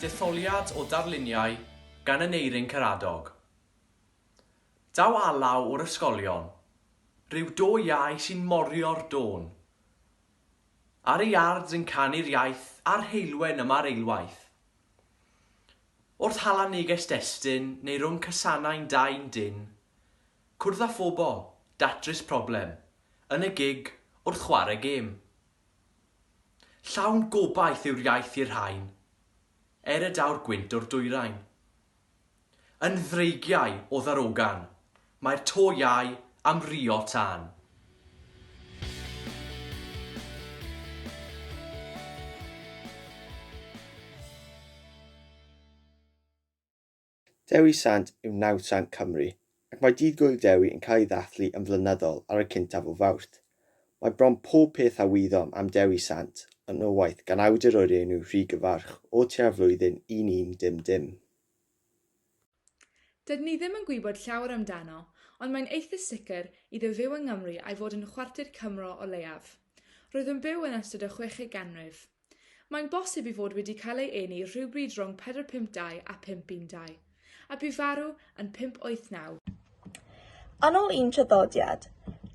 Detholiad o darluniau gan Aneurin Karadog. Daw alaw o'r ysgolion, rhyw do iau sy'n morio'r dôn. Ar y yards yn canu'r iaith a'r heulwen yma'r eilwaith. Wrth hala neges destun neu rwng casanau'n dau yn dyn, Cwrdd â phobl, datrys problem, yn y gig, wrth chwarae gêm. Llawn gobaith yw'r iaith i'r rhain, er y daw'r gwynt o'r dwyrain. Yn ddreigiau o ddarogan, mae'r to iau am rio tân. Dewi Sant yw Nawdd Sant Cymru, ac mae Dydd Gŵyl Dewi yn cael ei ddathlu yn flynyddol ar y cyntaf o Fawrth. Mae bron pob peth a wyddom am Dewi Sant yn o waith gan awdur o'r enw Rhug y Farch o tua'r flwyddyn 1100. Dydyn ni ddim yn gwybod llawer amdano, ond mae'n eitha sicr iddo fyw yng Nghymru a'i fod yn chwarter Cymro o leiaf. Roedd yn byw yn ystod y chweched ganrif. Mae'n bosib ei fod wedi cael ei eni rhywbryd rhwng 452 a 512, a bu farw yn 589. Yn ôl un traddodiad,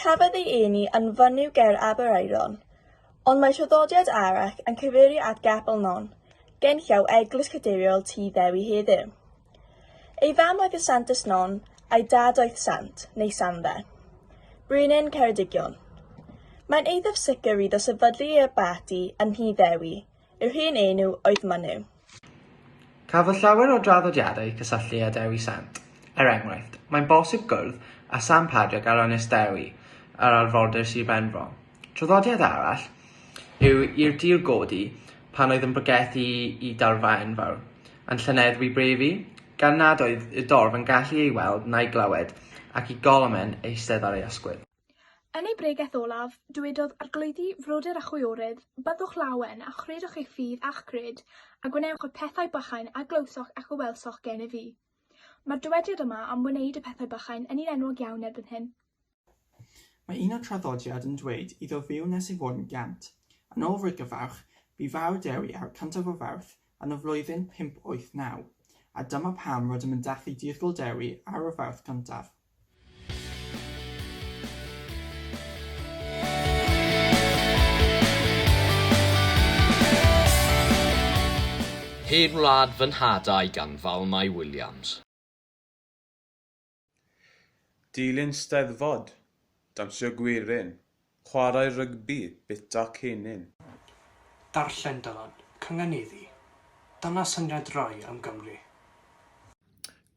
cafodd ei eni yn fynyw ger Aberaeron, ond mae traddodiad arall yn cyfeirio at Gapel Non, genllaw Eglwys Cadeiriol Tŷ Ddewi heddiw. Ei fam oedd y Sant Ysnon, a'i dad oedd Sant, neu Sandde. Brenin Ceredigion. Mae'n eithaf sicr iddo sefydlu ei abaty yn Nhŷ Ddewi, i'r hun enw oedd Mynyw. Cafodd llawer o draddodiadau eu cysylltu â Dewi Sant. Er enghraifft, mae'n bosib gwrdd â Sant Padrig ar Ynys Dewi ar arfordir Sir Benfro. Traddodiad arall yw i'r dur godi pan oedd yn bregethu i darfa enfawr, a'n llyneddfu brefi, gan nad oedd y dorf yn gallu ei weld na'i glywed, ac i Golomen eistedd ar ei ysgwydd. Yn ei bregeth olaf, dywedodd, Arglwyddi, frodyr a chwiorydd, byddwch lawen, a chredwch eich ffydd a'ch gred, a gwnewch y pethau bychain a glywsoch ac a welsoch gennyf fi. Mae'r dywediad yma am wneud y pethau bychain yn un enwog iawn erbyn hyn. Mae un o'r traddodiad yn dweud iddo fyw nes ei fod yn gant. Yn ôl Rhyd Gyfawch, bu farw Dewi ar y cyntaf o Fawrth yn y flwyddyn 589, a dyma pam rydym yn dathlu dirgel Dewi ar y Fawrth cyntaf. Hen wlad fy nhad a'i ganfal Mai Williams. Dilyn Steddfod, dawnsio gwerin, chwarae rygbi, bwyta cennin. Darllen Dylan, cynganeddu. Dyna syniad Roy am Gymru.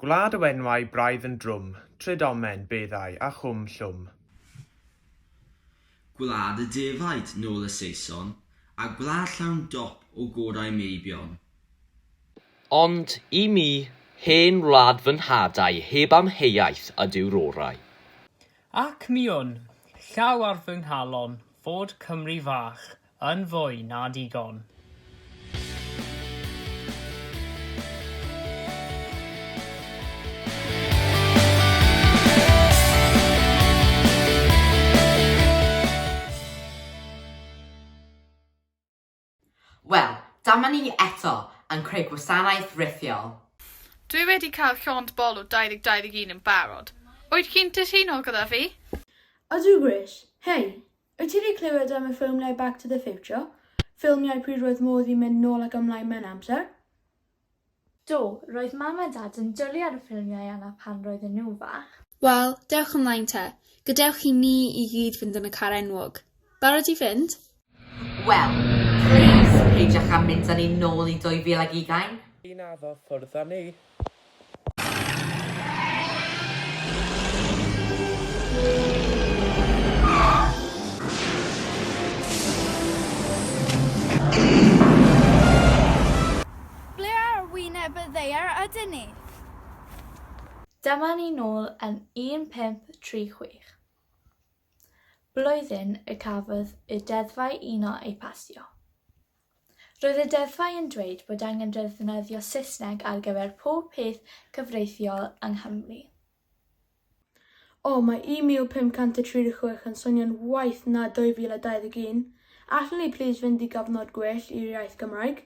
Gwlad o enwau braidd yn drwm, trud omen, beddau, a chwm llwm. Gwlad y defaid, nôl y Saeson, a gwlad llawn dop o gorau meibion. Ond i mi, hen wlad fy nhad a'i heb amheuaeth ydyw'r orau. Ac mi wn, llaw ar fy nghalon, fod Cymru fach yn fwy na digon. Wel, dyma ni eto yn creu gwasanaeth rithiol. Dwi wedi cael llond bol o 2021 yn barod. Wyt ti'n cytuno gyda fi? Ydw Grish. Hei! Wyt ti 'di clywed am y ffilmiau Back to the Future? Ffilmiau pryd roedd modd i mynd nôl ac ymlaen mewn amser? Do, roedd Mam a Dad yn dwlu ar y ffilmiau yna pan roedden nhw'n fach. Wel, dewch ymlaen te. Gadewch i ni i gyd fynd yn y car enwog. Barod i fynd? Wel, plis, peidiwch â mynd â ni nôl i 2020. Naddo, ffwrdd â ni. Ble ar wyneb y ddaear ydyn ni? Dyma ni nôl yn 1536. Blwyddyn y cafodd y deddfau uno eu pasio. Roedd y deddfau yn dweud bod angen defnyddio Saesneg ar gyfer pob peth cyfreithiol yng Nghymru. O, mae 1536 yn swnio'n waeth na 2021. Allwn ni plîs fynd i gofnod gwell i'r iaith Gymraeg?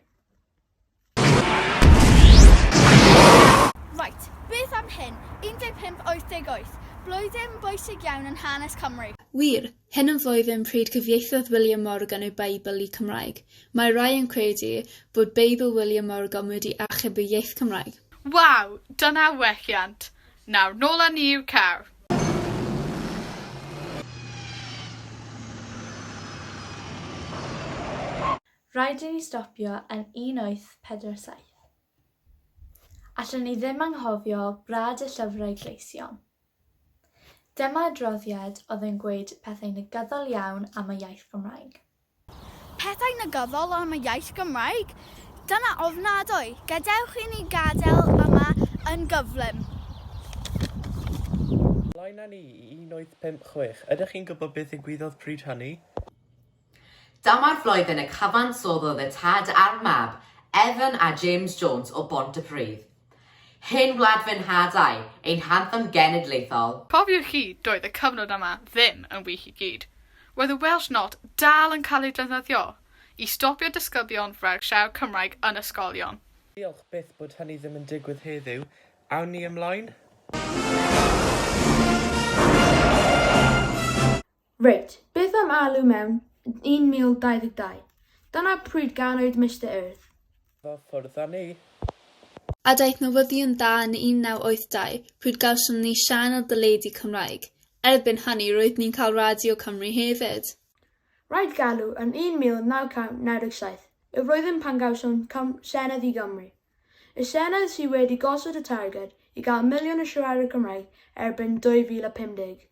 Reit, beth am hyn, 1588, blwyddyn bwysig iawn yn hanes Cymru. Wir, Hyn yn flwyddyn pryd cyfieithodd William Morgan ei Beibl i Cymraeg. Mae rhai yn credu bod Beibl William Morgan wedi achub y iaith Cymraeg. Waw! Dyna welliant! Nawr nôl â ni i'w car. Rhaid i ni stopio yn 1847. Allwn ni ddim anghofio Brad y Llyfrau Gleision. Dyma adroddiad oedd yn gweud pethau negyddol iawn am y iaith Gymraeg. Pethau negyddol am y iaith Gymraeg? Dyna ofnadwy! Gadewch i ni gadael yma yn gyflym. Blaen â ni i un wyth pump chwech. Ydych chi'n gwybod beth ddigwyddodd pryd hynny? Dyma'r flwyddyn y cyfansoddodd y tad a'r mab, Evan a James Jones o Bontypridd. Hen wlad fy nhad ai, ein hanthem genedlaethol. Cofiwch chi, doedd y cyfnod yma ddim yn wych i gyd. Roedd y Welsh Not dal yn cael ei defnyddio i stopio disgyblion rhag siarad Cymraeg yn ysgolion. Diolch byth bod hynny ddim yn digwydd heddiw. Awn ni ymlaen? Reit, beth am alw mewn 1022? Dyna pryd ganwyd Mister Earth. Fo ffwrdd â ni. A daeth newyddion da yn 1982 pryd gawsom ni sianel deledu Cymraeg. Erbyn hynny roedd ni'n cael Radio Cymru hefyd. Rhaid galw yn 1997 y flwyddyn pan gawsom Senedd i Gymru. Y Senedd sydd wedi gosod y targed i gael miliwn o siaradwyr Cymraeg erbyn 2050.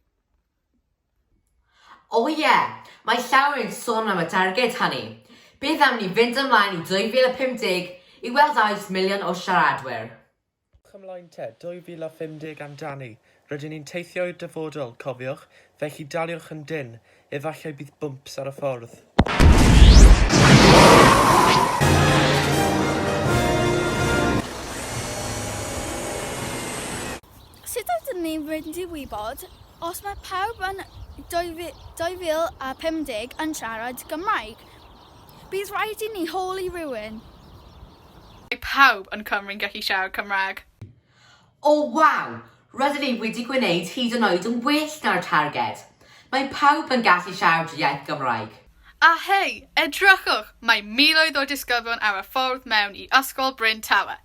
O ie, mae llawer yn sôn am y targed hynny. Beth am ni fynd ymlaen i 2050 i weld a oes miliwn o siaradwyr? Ewch ymlaen te, 2050 amdani, rydyn ni'n teithio i'r dyfodol, cofiwch, felly daliwch yn dynn, efallai bydd bwmps ar y ffordd. Sut ydyn ni'n mynd i wybod os mae pawb yn 2050 yn siarad Cymraeg? Bydd rhaid i ni holi rhywun. Mae pawb yn Cymru'n gallu siarad Cymraeg. O waw! Rydyn ni wedi gwneud hyd yn oed yn well na'r targed! Mae pawb yn gallu siarad iaith Gymraeg. A hei, edrychwch! Mae miloedd o disgyblion ar y ffordd mewn i Ysgol Bryn Tawe.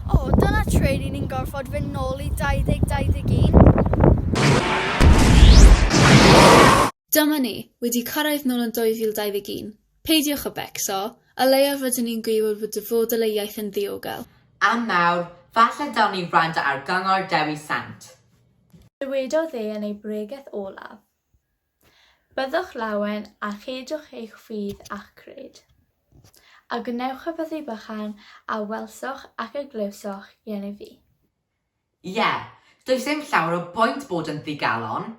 O, dyna tre ry'n ni'n gorfod fynd nôl i 2021. Dyma ni, wedi cyrraedd nôl yn 2021. Peidiwch â becso, o leiaf rydyn ni'n gwybod fod dyfodol ei iaith yn ddiogel. A nawr, falle dawn ni wrando ar gyngor Dewi Sant. Dywedodd e yn ei bregeth olaf. Byddwch lawen a cheidwch eich ffydd a'ch cred. A gwnewch y byddau bychan a welsoch ac a glywsoch yen i fi. Ie, does dim llawer o bwynt bod yn ddigalon,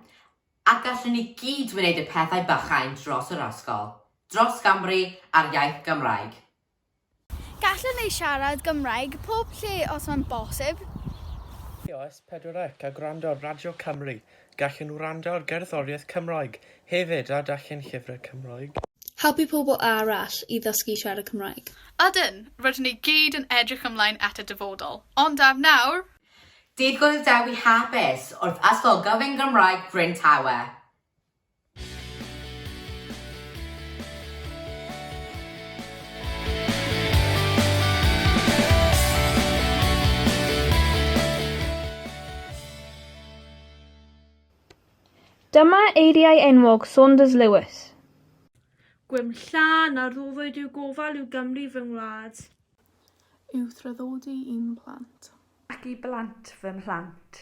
ac gallwn ni gyd wneud y pethau bychain dros yr ysgol, dros Gymru a'r iaith Gymraeg. Gallen ni siarad Gymraeg pob lle os mae'n bosib. Ios pedwar ec a gwrando ar Radio Cymru, gallen nhw wrando ar gerddoriaeth Cymraeg hefyd a darllen llyfrau Cymraeg. Helpu pobl arall i ddysgu siarad Cymraeg. Ydyn, rydyn ni gyd yn edrych ymlaen at y dyfodol. Ond am nawr! Digwydd Dewi Hapus wrth aslogaf yn Gymraeg Bryn Tawe. Dyma eiriau enwog Saunders Lewis. Gwyn lla na rhoddwyd i'w gofal i'w Gymru fy ngwlad. I'w thraddodi i'm mhlant. Ac i blant fy mhlant.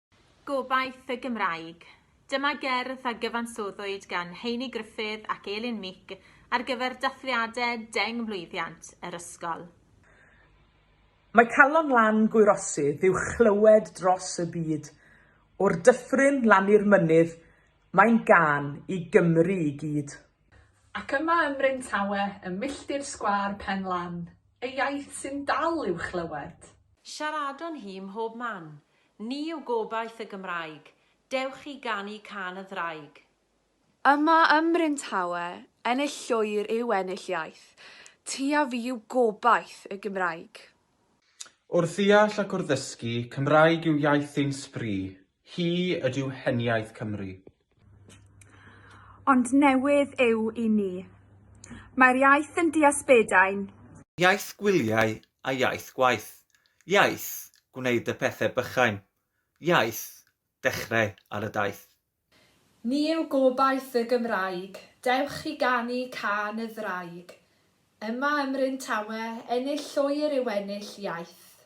Gobaith y Gymraeg. Dyma gerdd a gyfansoddwyd gan Heini Gruffydd ac Elin Meek ar gyfer dathliadau deng mlwyddiant yr ysgol. Mae calon lan gwyrosydd i'w chlywed dros y byd, o'r dyffryn lan i'r mynydd, mae'n gân i Gymru i gyd. Ac yma ym Mryn Tawe, ym milltir sgwâr Pen Lan, y iaith sy'n dal i'w chlywed. Siaradwn hi mhob man, Ni yw gobaith y Gymraeg. Dewch i ganu cân y ddraig. Yma ym Mryn Tawe, ennill llwyr yw ennill iaith. Ti a fi yw gobaith y Gymraeg. O'r ddeall ac o'r ddysgu, Cymraeg yw iaith ein sbri, hi ydyw heniaith Cymru. Ond newydd yw i ni. Mae'r iaith yn diasbedain. Iaith gwyliau a iaith gwaith. Iaith gwneud y pethe bychain. Iaith dechre ar y daith. Ni yw gobaith y Gymraeg. Dewch i ganu cân y ddraig. Yma ym Mryn Tawe, ennill llwyr yw ennill iaith.